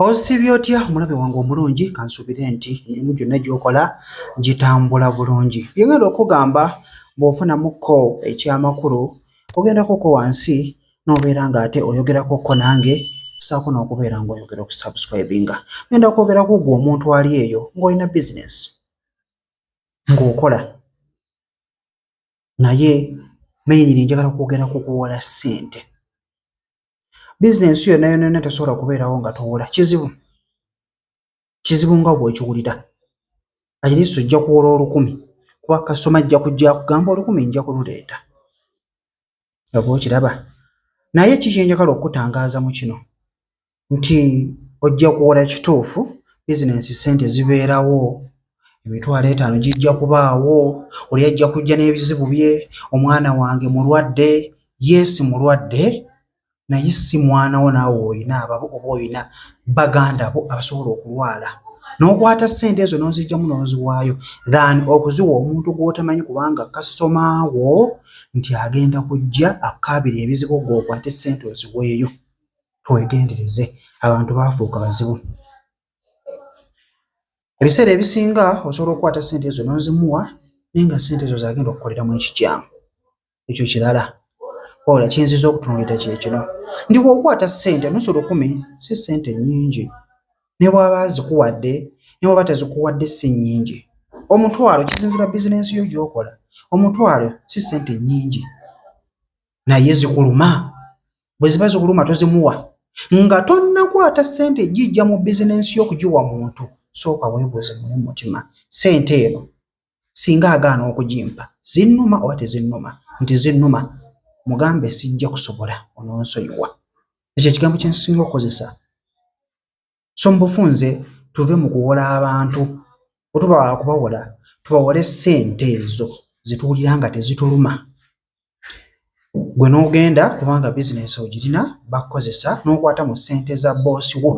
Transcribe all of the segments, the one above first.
Osibye otya omulabe wange omulungi kansubire nti emimu gyonna gyokola gitambula bulungi byengenda okugamba bwofunamukko ekyamakulu ogendako ko wansi nobeera nga ate oyogerako ko nange saako nokubeera nga oyogera okusubscribinga genda kwogera ku gwe omuntu ali eyo ngaolina bizinesi ngaokola naye menyini njagala kwogera ku kuwola ssente bizinensi yonna yonna yonna tesobola kubeerawo nga towola kizibu kizibu nga bwekiwulira ayiriso ojja kuwola olukumi kuba kasoma ajja kujja kugamba olukumi nja kululeeta oba okiraba naye ki kyenjagala okukutangaaza mu kino nti ojja kuwola ekituufu bizinensi ssente zibeerawo emitwalo etaano gijja kubaawo oli ajja kujja n'ebizibu bye omwana wange mulwadde yeesi mulwadde naye si mwana wo naawe olina ababo oba olina baganda bo abasobola okulwala n'okwata ssente ezo n'ozijjamu n'oziwaayo than okuziwa omuntu gw'otamanyi kubanga kasitoma wo nti agenda kujja akukaabira ebizibu gw'okwate ssente oziweeyo twegendereze abantu baafuuka bazibu ebiseera ebisinga osobola okukwata ssente ezo n'ozimuwa naye nga ssente ezo zagenda okukoleramu ekikyamu ekyo kirala wabula kyenziza okutunulira kyekino ndi wokwata sente nusu lukumi si sente nyingi nebwaba zikuwadde nebwaba tezikuwadde si nyingi omutwalo kisinzira bizinensi yo gyokola omutwalo si sente nyingi naye zikuluma bwe ziba zikuluma tozimuwa nga tonnakwata sente ejijja mu bizinensi yo okugiwa muntu sooka webuuze mune mutima sente eno singa agaana okugimpa zinnuma oba tezinnuma nti zinnuma mugambe sijja kusobola ononsonyiwa ekyo ekigambo kyensinga okukozesa so mubufunze tuve mu kuwola abantu otuba wakubawola tubawole sente ezo zituwulira nga tezituluma gwe n'ogenda kubanga bizinensi ogirina bakukozesa n'okwata mu ssente za boosi wo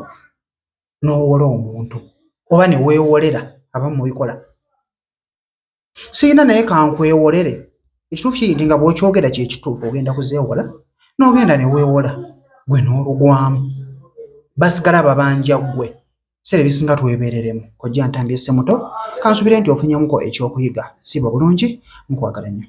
n'owola omuntu oba ne weewolera abamu mubikola sirina naye kankwewolere ekituufu kiri nti nga bw'okyogera kye kituufu ogenda kuzeewola n'ogenda ne weewola gwe n'olugwamu basigala babanja ggwe ebiseera ebisinga twebeereremu kojja ntambi esse muto kansubire nti ofunyemuko ekyokuyiga siba bulungi nkwagala nnyo